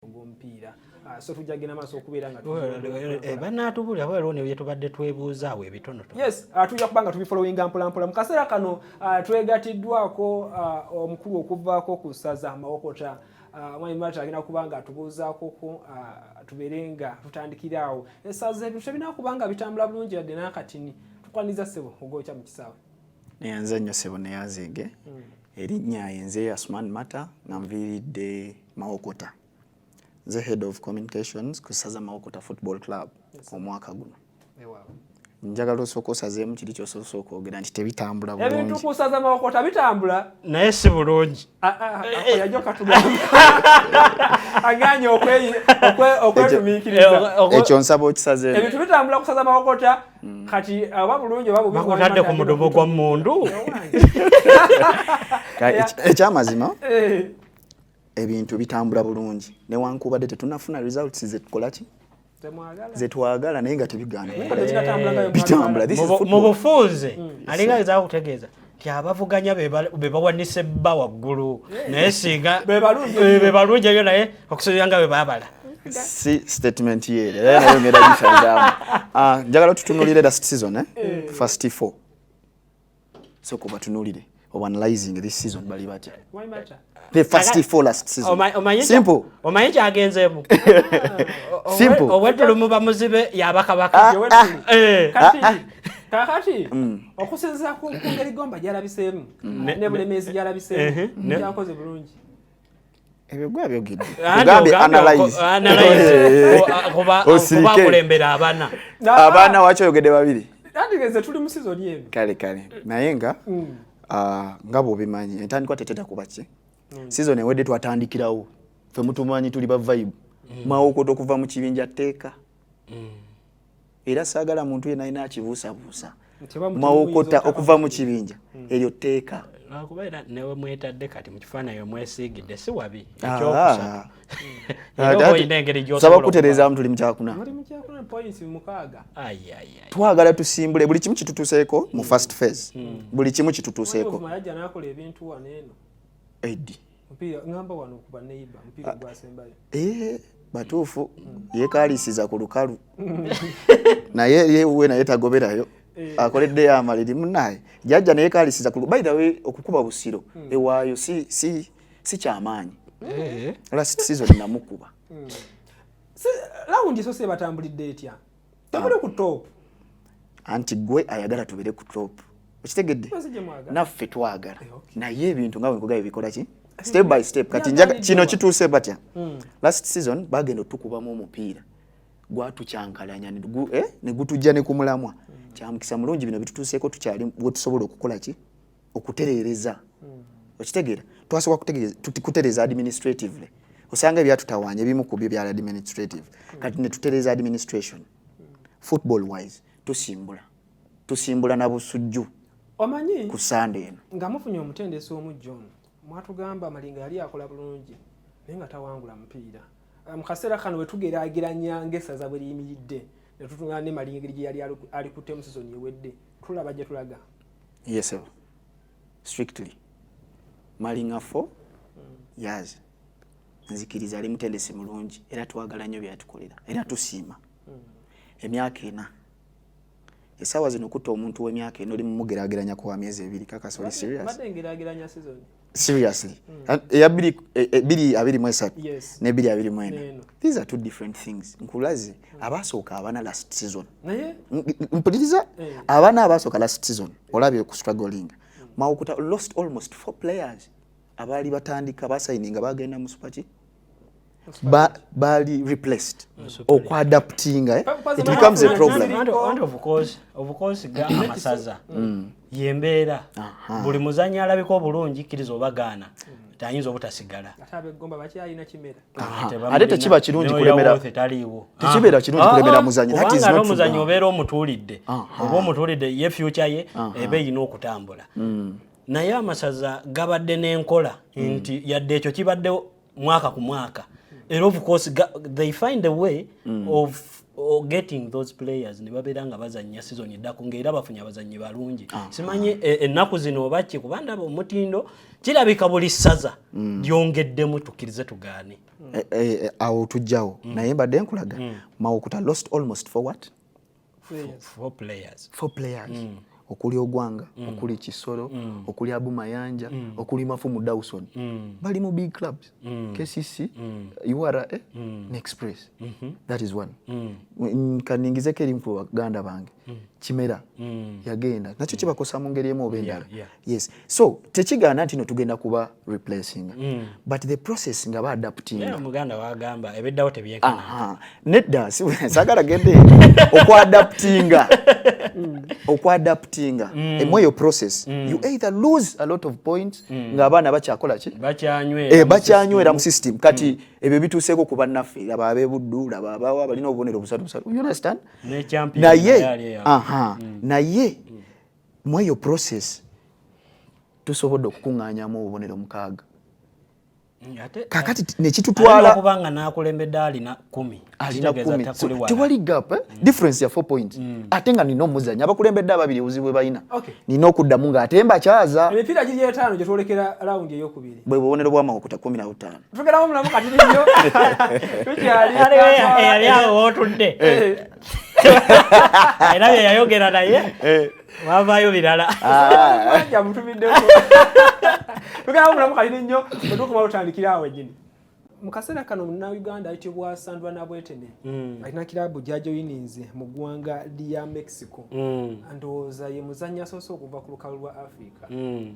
ogwomupiira ah, so tujja genda maaso okubeera nga eh, eh, banaatubulira bwa loni bye tubadde twebuuza awo ebitonoto yes ah, tujja kuba nga tubifolowinga mpolampola mu kaseera kano ah, twegatiddwako omukulu okuvaako ku ssaza amawokota mwami mata agenda kuba nga atubuuzaakoko tubeere nga tutandikira awo esaza ebintu tebinaa kuba nga bitambula bulungi yadde n'akatini tukwaniza ssebo ogwokya mu kisaawe neyanza nnyo sebo neyanzege mm. erinnya yenze asman mata nga nviiridde mawokota nze head of communications ku saza mawokota football club omwaka guno njagala osooka osazeemu kiri kyosoose okwogera nti tebitambula bulungi ebintu kusaza mawokota bitambula naye si bulungi aganye okwetumiikirizaekyo nsaba okisaze ebintu bitambula kusaza mawokota mm. kati aba bulungi oba bubitadde ku mudomo gwa mundu ekyamazima eh. ebintu bitambula bulungi newankubadde tetunafuna results zetukolaki zetwagala naye nga tebigaanamubufunze mm. alinga gezaku kutegeeza nti abavuganya bebawanise bba waggulu naye singa bebalungi ebyo naye okusobera nga bebabala si statement ye nayongera gifyazamu ah, njagala tutunulire last season eh? mm. first four so kubatunulire obanalyzing this season bali batya the first for last season simple omanyi kyagenzeemu simple owetulumu bamuzibe yabakabaka ah, ah. Eh. Ah, kakati mm. okusinzira ku ngeri gomba gyalabiseemu mm. ne bulemeezi gyalabiseemu gyakoze bulungi ebyo gwe abyogedde ogambye analyze kuba kulembera abana abana waki oyogedde babiri nandigeze tuli mu season eno kale kale naye nga mm. ah, nga bwobimanyi entandikwa teteta kuba ki mm. season ewedde twatandikirawo fe mutumanyi tuli ba vibe mm. mawokoto okuva mu kibinja teeka era saagala muntu yena alina akibuusabuusa mawokota okuva mu kibinja hmm. eryo tteeka lwakuba era newe mwetadde kati mu kifaananyi omwesiigidde si wabi ah. ekyokusatu saba kutereezaamu tuli mukyakuna twagala tusimbule buli kimu kitutuseeko mu first phase hmm. buli kimu kitutuseeko edi mpira ngamba wano ku baneiba mpira ah, gwasembayo eh batuufu mm. yekaalisiza ku lukalu naye yewe naye tagoberayo eh. akoledde yamaliri munaye jajja naye kaalisiza ku by the way okukuba busiro mm. ewaayo si, si, si kyamaanyi eh. last season namukuba mm. lawundi so sebatambulidde etya tabule ku top anti gwe ayagala tubere ku top okitegedde naffe twagala eh, naye ebintu nga wenkuga ebikola ki step by step kati njaga kino kituuse batya hmm. last season bagenda otukubamu omupiira gwatucankalanya eh, ne gutujja ne kumulamwa hmm. kyamukisa mulungi bino bitutuuseeko tukyali wetusobola okukola ki okutereereza hmm. okitegeera twasobola kutereeza administratively osanga ebyatutawaanya ebimu ku byo byali administrative hmm. kati ne tutereeza administration hmm. football wise tusimbula tusimbula na busujju omanyi ku sande eno nga mufunye omutendesi omu john mwatugamba malinga yali akola bulungi naye nga tawangula mupiira mu kaseera kano wetugeraageranya ngaesaza bwe liyimiridde netutunula ne malinga engeri gye yali alikuttemu sizoni ewedde tulaba gye tulaga Yes, sir. Strictly. Malinga for years. Nzikiriza ali mutendesi mulungi era twagala nnyo byatukolera era tusiima emyaka ena esaawa zino okutta omuntu w'emyaka ena oli mumugerageranya ku wa myezi ebiri kakasoli serious seriously hmm. eya biri e, e, biri abiri mu esatu ne biri abiri mu ena these are two different things nkulaze hmm. abasooka abana last season mpuliriza eh. abana abasooka last season olabye ku struggling hmm. mawukuta lost almost four players abaali batandika basayininga bagenda mu supaki bali replaced okuadaptinga eh? it becomes a problemamasaza mm. yembeera buli muzanyi alabika obulungi kkiriza oba gaana tayinza obutasigala ate tekiba kirungi kulemera taliiwo tekibeera kirungi kulemera muzanyi that is not omuzanyi obeera omutuulidde oba omutuulidde ye future ye ebe yina okutambula mm. naye amasaza gabadde n'enkola hmm. nti yadde ekyo kibadde mwaka ku mwaka era of course they find a way mm. of or getting those players ne babeera nga bazannya sizoni eddako ngaera bafunye abazannyi balungi ah, simanyi ah. E, ennaku zino oba ki kuba ndaba omutindo kirabika buli ssaza mm. lyongeddemu tukkirize tugaane eh, eh, eh, awo tujjawo mm. naye mbadde nkulaga mm. mawukuta lost almost for what four players four players mm. okuli ogwanga mm. okuli kisoro mm. okuli abu mayanja mm. okuli mafumu dawson mm. bali mu big clubs mm. kcc mm. ura eh? mm. ne express mm -hmm. that is one mm. mm kaningizeko eri mukulu waganda bange mm. kimera mm. yagenda nakyo mm. kibakosa mu ngeri emu oba endala yeah, yeah. yes so tekigaana nti no tugenda kuba replacing mm. but the process nga ba adapting yeah, muganda wagamba ebeddawo tebyenkana nedda sagala gende okwadaptinga mm. okwadaptinga mm. emweyo process mm. you either lose a lot of points mm. nga abaana bakyakola ki eh, bakyanywera mu system kati mm. ebyo bituuseeko ku bannaffe laba abebuddu laba abawa abalina obubonero busatu busatu naye mm. naye mm. mu eyo process tusobodde okukuŋŋaanyamu obubonero mukaaga kakati nekitutwalaokubanga nakulembedde alina kumi alina kumi tewali gap eh? mm. difference ya four point mm. ate nga nina omuzanyi abakulembedde ababiri obuzibu bwe balina okay. nina okuddamu nga ate mbakyaza emipiira giri etaano gye twolekera lawundi eyokubiri bwe bubonero bwamakukuta kumi na butaano tugeramo mulamu kati nibyo tukyali eyali awo wotudde eh. era bye yayogera naye eh. wavaayo birala ah. mutumiddemugamba mulamu kalini nnyo otukuba lutandikira awo enyini mu kaseera kano munnauganda ayitibwa sandra nabwetene mm. alina kiraabu gyajoyininze mu ggwanga lya mexico mm. ndowooza ye muzannya asoose okuva ku lukalu lwa africa mm.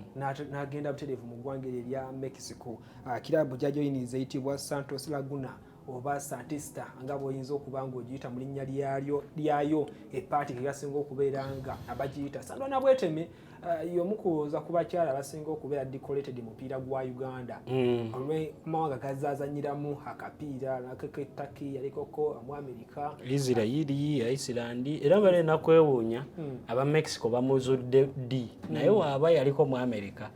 n'agenda butereevu mu ggwanga eryo erya mexico ah, kiraabu gyajoyininze eyitibwa santos laguna oba santisita nga bwoyinza okuba nga ogiyita mu linnya lyayo lyayo epaati nga yasinga okubeera nga abagiyita sandwana bweteme uh, yomu kuwooza ku bakyala abasinga okubeera decorated mupiira gwa uganda mm. olwemawanga gazazanyiramu akapiira nakekettaki yalikoko mu amerika isirairi iceland era bale nakwewuunya mm. aba mexico bamuzudde ddi mm. naye waaba yaliko mu amerika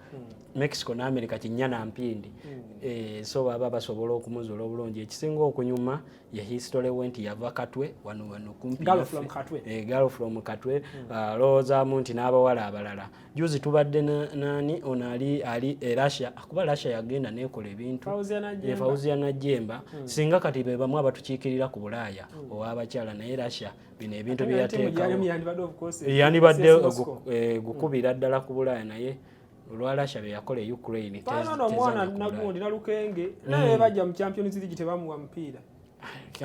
mexico ne america kinya na mpindi hmm. eh, so baba basobola okumuzula obulungi ekisinga okunyuma ye history went yava katwe wano wano kumpi galo from katwe eh, galo from katwe hmm. ah, loza munti n'abawala abalala juzi tubadde nani ono ali ali e russia kuba russia yagenda nekola ebintu fauzia najemba hmm. singa kati be bamu abatukiikirira ku bulaaya owabakyala naye russia bino ebintu byeyateekawo yandibadde eh, gukubira ddala ku bulaaya naye olwa Russia bye yakola e Ukraine tezi no mwana nagundi nalukenge mm. naye bajja mu Champions League tebamuwa mpira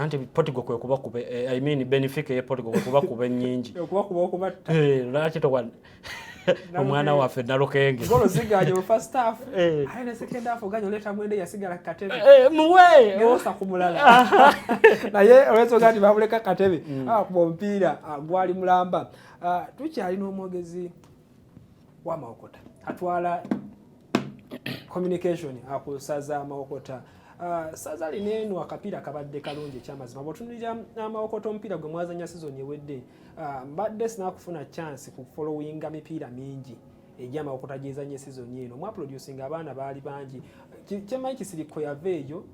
anti Portugal kwe kuba kuba eh, I mean Benfica ye Portugal kwe kuba kuba nyingi kuba kuba okuba eh laki to one omwana waffe nalukenge golo zigaje mu first half eh. ayi ne second half oganyo leta mwende yasigala katebe eh, muwe yosa kumulala naye olwezo gati babuleka katebe mm. ah, kuba mpira ah, gwali mulamba ah, tukyali n'omwogezi wa Mawokota atwala communication akusaza Mawokota Uh, saza lino eno akapiira kabadde kalungi ekyamazima bwotunulira amawokota uh, omupiira gwe mwazanya sizoni ewedde uh, mbadde sinakufuna chance ku followinga mipiira mingi egyamawokota gyezanye sizoni eno mwaproducinga abaana baali bangi kyemanyi kisirikko yava eyo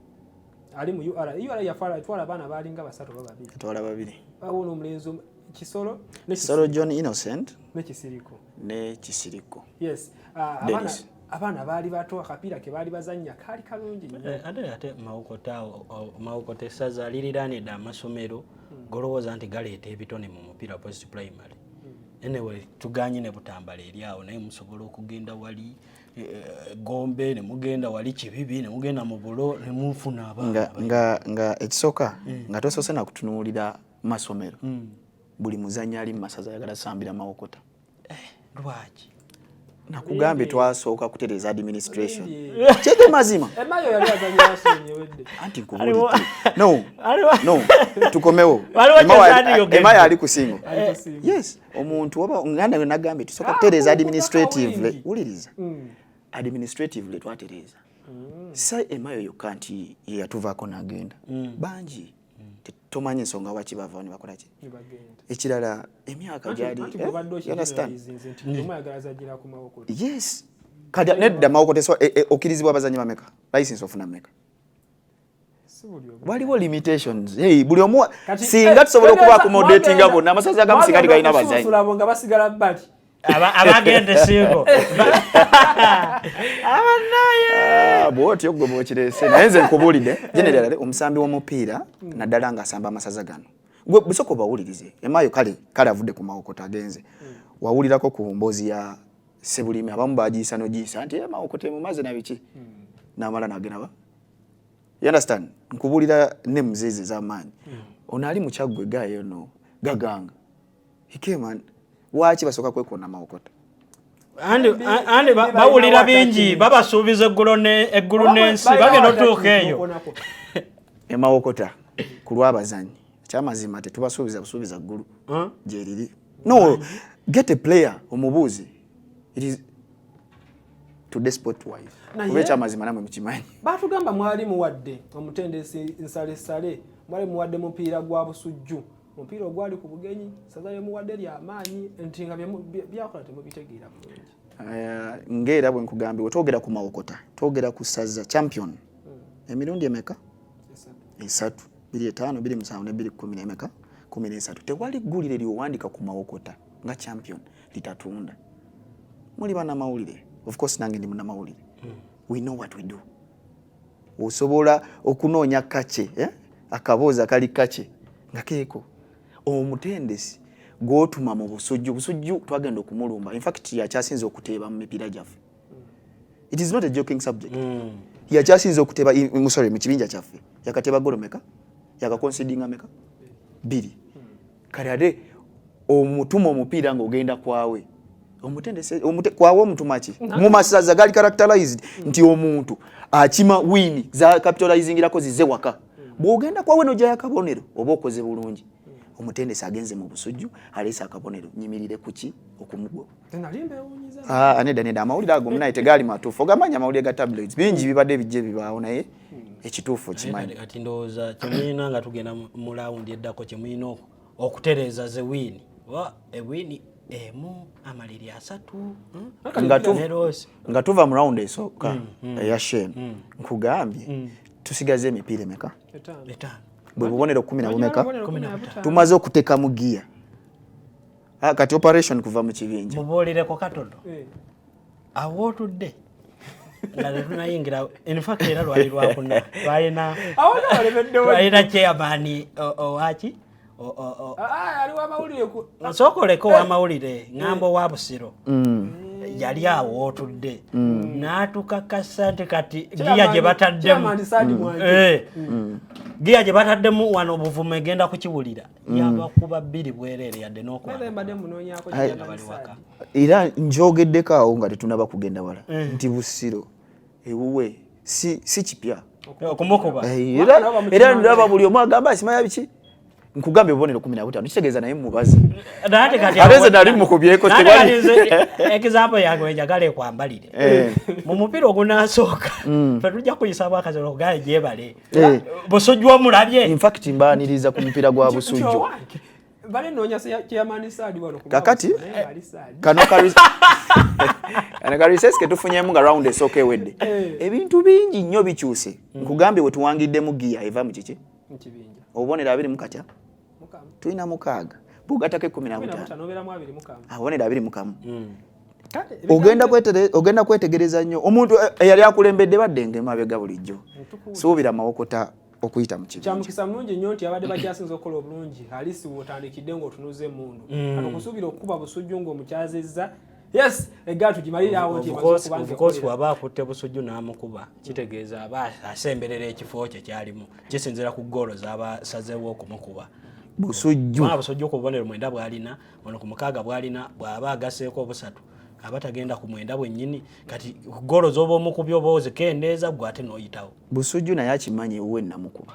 ali mu ura ura yatwala abaana baalinga basatu oba babiri atwala babiri awo n'omulenzi kisolo kisolo john innocent ne kisiriko ne kisiriko yes uh, abana abaana baali bato akapiira ke baali bazannya kaali kalungi nnyo eh, ate ate mawokota essaza aliriraanidde amasomero hmm. golowooza nti galeeta ebitone mu mupiira post primary hmm. anyway tuganye ne butambala eri awo naye musobola okugenda wali eh, eh, gombe nemugenda wali kibibi nemugenda mu bulo nemufuna abaana nga ekisooka hmm. nga tosoose nakutunuulira masomero mm. buli muzanyi ali mumasaza ayagala sambira mawokota eh, lwaki nakugambye twasooka kutereza administration kyege mazima anti nkubulitukkomewo emayo ali kusingo yes omuntu oba nganda yo nagambye tusooka ah, kutereza administratively wuliriza mm. administratively twatereza mm. sa emayo yokka nti yeyatuvaako nagenda mm. bangi tomanyi nsonga waki bavawo ne bakola ki ekirala emyaka gyali yes kati nedda mawokoteswa eh, eh, okkirizibwa abazanyi bameka license ofuna meka waliwo limitations hey, buli omu singa eh, tusobola okuba accommodatinga bonna amasaza agamu singa tigalina bazanyi abagenda esingo abanaye ah, bwotyo gwe bwokirese naye nze nkubuulidde generale omusambi w'omupiira naddala ng'asamba amasaza gano gwe busooka obawulirize emayo kale kale avudde ku mawokota agenze wawulirako ku mboozi ya sebulimi abamu bagiyisa nogiyisa nti mawokota emumaze nabiki namala nagenaba you understand nkubuulira ne muzeezi ez'amaanyi hmm. ono ali mukyaggwe gayo no gaganga He came and waaki basooka kwekoona mawokota andi bawulira bingi babasuubiza eggulu n'ensi bagenda otuuka eyo emawokota ku lwabazanyi ekyamazima tetubasuubiza busuubiza ggulu gyeriri no get a player omubuuzi kuba ekyamazima namwe mukimanyi batugamba mwali muwadde omutendesi nsalesale mwali muwadde mupiira gwa busujju omupiira ogwali ku bugenyi saza lyemuwadde lyamaanyi nti nga byakola temubitegeera bulungi eh, ngaera bwe nkugambye wetwogera ku mawokota twogera ku saza champion hmm. emirundi emeka esatu biri etaano biri musanvu ne biri kumi nemeka kumi nesatu tewali ggulire lyowandika ku mawokota nga champion litatunda muli banamawulire of course nange ndi munamawulire hmm. we know what we do osobola okunoonya kace eh? akaboozi akali kace nga keeko omutendesi gwotuma mu busujju busujju twagenda okumulumba infact yakyasinza okuteeba mu mipiira gyaffe it is not a joking subject mm. yakyasinza okuteeba sorry mu kibinja kyaffe yakateeba golomeka yakakonsidinga meka biri kale ate omutuma omupiira ng'ogenda kwawe kwawa omutuma ki mu masaza gali characterized mm. nti omuntu akima wini za capitalizingirako zize waka mm. bw'ogenda kwawe n'ojjayo akabonero oba okoze bulungi mm. omutendesi agenze mu busujju aleese akabonero nyimirire kuki okumugoba Ah, nedda nedda amawulire ago munaye tegaali matuufu ogamanya amawulire ga tablets bingi bibadde bijja ebibaawo naye hmm. ekituufu okimanyi kati ndowooza kyemulina nga tugenda mu lawundi eddako kyemulina okutereeza ze wiini oba ewiini emu amaliri asatu hmm? nga tuva mu lawundi esooka hmm, eya shemu nkugambye tusigaze emipiira emeka bwe bubonero kumi na bumeka tumaze okutekamu giya Ah, kati operation kuva mu kibinja muboolireko katono eh. awootudde nga tetunayingira infact era lwali lwakuna twalina twalina chairman owaki nsooka oleka owamawulire ŋambo wa busiro mm. yali awo otudde mm. n'atukakasa nti kati giya gye bataddemu mm. eh. giya gye bataddemu wano obuvumu egenda kukiwulira yabakuba bbiri bwereere yadde n'okwabaliwaka era njogeddeko awo nga tetunaba kugenda wala eh. nti busiro ewuwe si kipya okumukuba eh, era ndaba buli omu agamba simanya biki nkugambye obubonero kumi nabutano kitegeeza naye mubazi abeze nali mukubyeko example yange wenjagala ekwambalire eh. mu mupiira ogunasooka mm. fetujja kuyisabwa akaziro okugaa jebale Eh. Busujju omulabye. In fact mbaniriza ku mpira gwa Busujju. Bale nonya chairman Saadi wano ku. Kakati kano ka Ana ka recess ke tufunyemu nga round esooka ewedde. Eh. Ebintu bingi nnyo bikyuse. Hmm. Nkugambye wetuwangiddemu giya eva mu kiki? Mu kibinja. Obubonero abiri mu katya. tulina mukaaga bwogatako ekumi nabutaanoabonera abiri mukamu hmm. ogenda kwetegereza nnyo omuntu eh, eyali akulembedde badde nga emabega bulijjo suubira mawokota okuyita mu kibinja kyamukisa mulungi nnyo nti abadde bakyasinza okukola obulungi alisi wotandikidde ng'otunuza emundu hmm. kati okusuubira okukuba busujju ng'omukyazizza yes egaatu gimalire awo nti waba akutte busujju n'amukuba kitegeeza aba asemberera ekifo kye kyalimu kisinzira ku goolo zaba sazeewo okumukuba busujju busujju ku bubonero mwenda bwalina ono ku mukaaga bwalina bwaba agaseeko obusatu aba tagenda ku mwenda bwennyini kati goolo zoba omukubya oba ozikendeeza gwe ate n'oyitawo busujju naye akimanyi ewuwe namukuba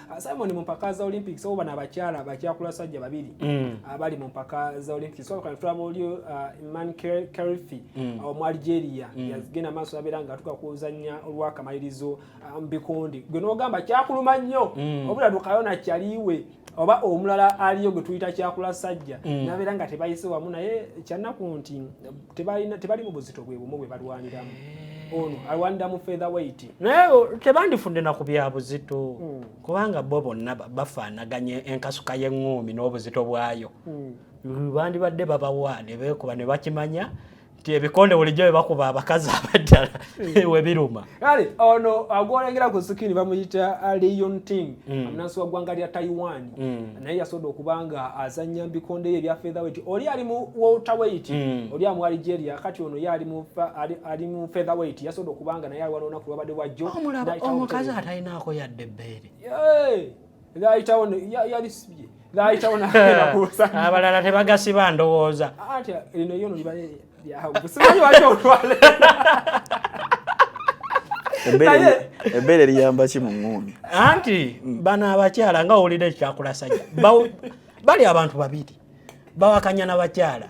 Ah, Simon mu mpaka za Olympics oba na bakyala bakyakula sajja babiri mm. abali mu mpaka za Olympics so kan tulaba oli uh, Iman Karifi mm. uh, omu Algeria mm. yazigenda maaso abera nga tuka kuzanya olwa kamalirizo um, bikondi gwe nogamba kyakuluma nnyo mm. obula dukayo na kyaliwe oba omulala aliyo gwe tuyita kyakula sajja mm. nabera nga tebayise wamu naye kyanaku nti tebalina tebali mu buzito bwe bumu bwe balwaniramu eh. ono alwanira mu feather weight naye tebandifudde na ku bya buzito hmm. kubanga bo bonna bafaanaganya enkasuka y'eŋŋuumi n'obuzito bwayo hmm. bandibadde babawa ne beekuba ne bakimanya nti ebikonde bulijjo bye bakuba abakazi abaddala hmm. we biruma kale ono agwolengera ku sikini bamuyita uh, leon ting mm. amunansi wa ggwanga lya taiwan mm. naye yasoboda okuba nga azanya mbikonde ye ebya featherweight oli ali mu welterweight mm. oli amu algeria kati ono ye ali mu featherweight yasoboda okuba nga naye aliwanonaku lwabadde bwajjo omukazi atalinaako yadde ebbeere Laayitawo yali sibye. Laayitawo n'agenda ku lusanja. Abalala tebagasiba ndowooza. Anti lino yono liba lyahagu. Simanyi wali olwale. Ebbeere liyamba ki mu ng'uumi? Anti mm. bano abakyala nga owulira ekyakulasanya. Bali abantu babiri. Bawakanya na bakyala.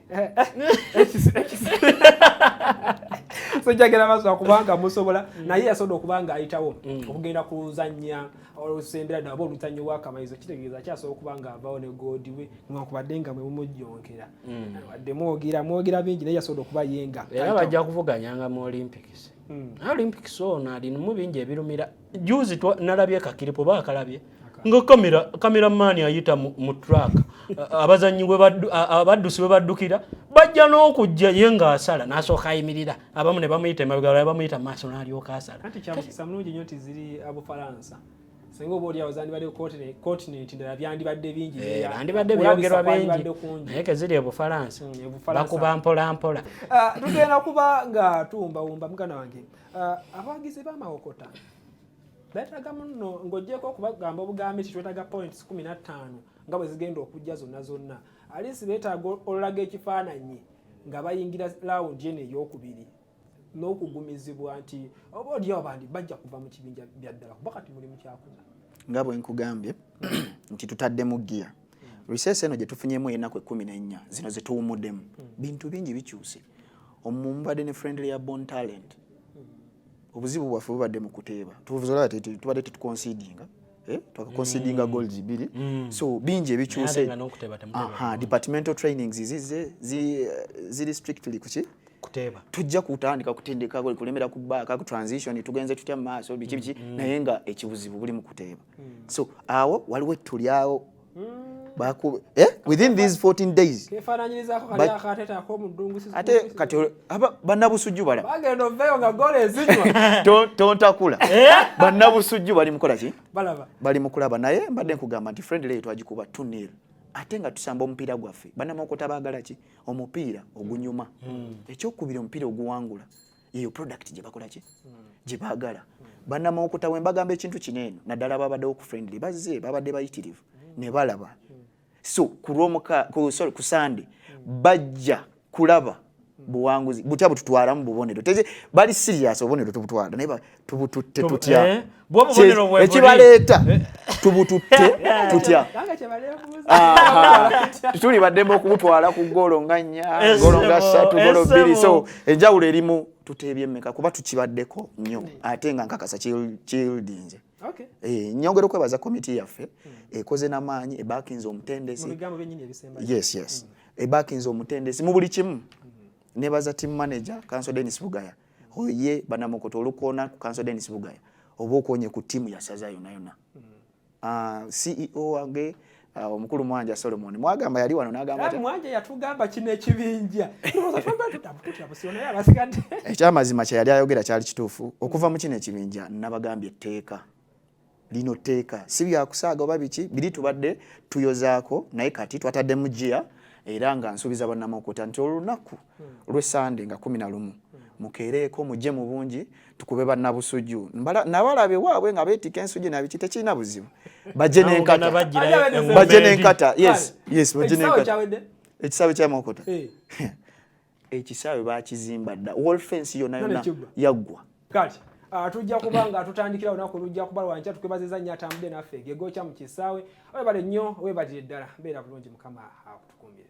sojagera mazima kubanga musobola mm. naye yasobola okuba nga ayitawo mm. okugenda kuluzannya olusembera ddala oba oluzannya owakamayizo kitegeeza akyasobola okuba nga avawo ne goodi we nwankubadde nga mwe mumujjonkera mm. wadde mwogera mwogera bingi naye yasobola okuba yenga era bajja kuvuganyanga mu olympics olympics ono alinimu bingi ebirumira juzi nalabye kakiripo bakalabye nga kamera kamera mani ayita mu track abazanyi abaddusi we baddukira bajja n'okujja ye ng'asala n'asooka ayimirira abamu ne bamuyita emabega balala bamuyita mu maaso n'alyoka asala kati kyamusa mulungi nnyo nti ziri abufalansa singa oba olyawo zandibadde continenti ndala byandibadde bingi eh, bandibadde byogerwa bingi naye keziri ebufalansa mm, bakuba mpolampola ah, tugenda kuba nga tuwumbawumba mugana wange Uh, abawagizi b'amawokota beetaaga muno ng'ogyeko okubagamba obugambi nti twetaaga points kumi na ttaano nga bwe zigenda okujja zonna zonna alinsi beetaaga olulaga ekifaananyi nga bayingira laawundi eno ey'okubiri n'okugumizibwa nti oba olyawo bandi bajja kuva mu kibinja bya ddala kuba kati mulimu kyakuza nga bwe nkugambye nti tutaddemu giya riseesi eno gye tufunyemu enaku ekkumi n'ennya zino ze tuwumuddemu hmm. bintu bingi bikyuse omumubadde ne friendly ya bon talent obuzibu bwaffe bubadde mu kuteeba tubadde tetukonsidinga eh? twakakonsidinga mm. golds biri mm. so bingi ebikyuse departmental trainings zize ziri strictly kuki kuteeba tujja kutandika kutendeka kulemera ku baaka ku transition tugenze tutya mu maaso biki biki mm. naye nga ekibuzibu buli mu kuteeba hmm. so awo waliwo ettu lyawo hmm. eh, within these 14 days ate kati bannabusujju balatontakula eh? bannabusujju bali mukola ki bali mukulaba naye mbadde nkugamba nti friendly eyo twagikuba tunil ate nga tusamba omupiira gwaffe banamawokota baagala ki omupiira ogunyuma hmm. ekyokubira omupiira oguwangula yeyo product gye bakola ki gye baagala bannamawokota we mbagamba ekintu kino eno naddala babaddewo ku friendly bazze babadde bayitirivu ne balaba so ku sande bajja kulaba buwanguzi butya bututwalamu bubonero teze bali serious obubonero tubutwala naye tubututte tutya eh? ekibaleeta eh? tubututte tutya tuli baddemu okubutwala ku goolo nga nnya goolo nga ssatu goolo bbiri so enjawulo erimu tuteebye mmeka kuba tukibaddeko nnyo ate nga nkakasa kildinze eh, nyongera okwebaza komiti yaffe hmm. ekoze namaanyi ebakinze omutendesi hmm. ebakinze omutendesi mu buli kimu hmm. nebaza team manager kanso denis bugaya mm. oye banamukoto olukoona ku kanso denis bugaya oba okonye ku tiimu yasaza yonayona mm. ah, ceo wange ah, omukulu mwanja solomon mwagamba yali wano nagambaamwanja yatugamba kino ekibinja ekyamazima kyeyali ayogera kyali kituufu okuva mu kino ekibinja nabagambye etteeka lino tteeka si byakusaaga oba biki biri tubadde tuyozaako naye kati twataddemu gia era nga nsuubiza banamukuta nti olunaku hmm. lwesande nga kumi na lumu hmm. mukeereeko mujje mu bungi tukube bannabusujju nabalaba ewaabwe nga beetika ensujju nabiki tekirina buzibu bajje nenkata bajje nenkata yes yes bajje nenkata ekisaawe kyamukuta eh. ekisaawe bakizimba dda wall fence yona yona yaggwa kati ah, tujja kuba nga tutandikira olunaku lujja kuba lwankya tukwebaziza nnyo atambudde naffe gegokya mu kisaawe webale nnyo webalire ddala beera bulungi mukama akutukuumire